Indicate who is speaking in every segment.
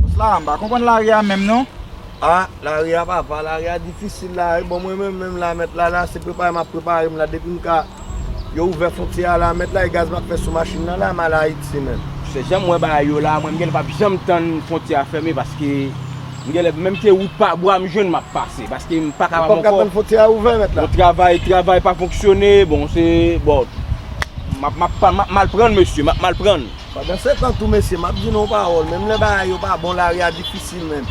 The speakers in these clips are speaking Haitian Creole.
Speaker 1: Boss la mpa konprann lari a menm non. Ah lari
Speaker 2: a papa lari a difisil la wi bon mwen menm menm la mèt la la se prepare map preparem la depim ka yo ouvè fontyè a la mèt la e gaz map fè sou machin nan la mal ayiti menm. Se janm wè bagay
Speaker 3: yo la mwen m genlè pap janm tann fontyè a fèmen paske m genlè menm ke wout pa bwa m jwenn map pase paske m pa kapab ankò bon
Speaker 2: travay travay pa
Speaker 3: fonksyone bon se bon map mal prann mesye map mal prann. Pandansetan tou
Speaker 2: mesye map di nou yon pawòl menm lè bagay yo pa bon lari a difisil menn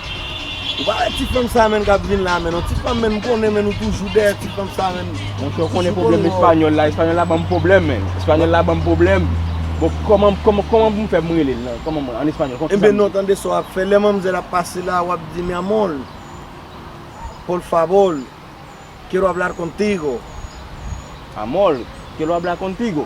Speaker 2: ou pa wè ti fanm sa menn kap vin la menn yon ti fanm menn m konnen menn ou toujou dèyè ti fanm sa menn Monchè ou konnen pwoblèm
Speaker 3: espanyòl la espanyòl la banm pwoblèm menn espanyòl la banm pwoblèm bon kòman kòman kòman poum fè poum relel nan kòman mwen an espanyòl kòman kisa Enben non tande sa wap
Speaker 2: fè lè manmzèl ap pase la wap di mi amor por favor quiero hablar contigo
Speaker 3: Amor quiero hablar contigo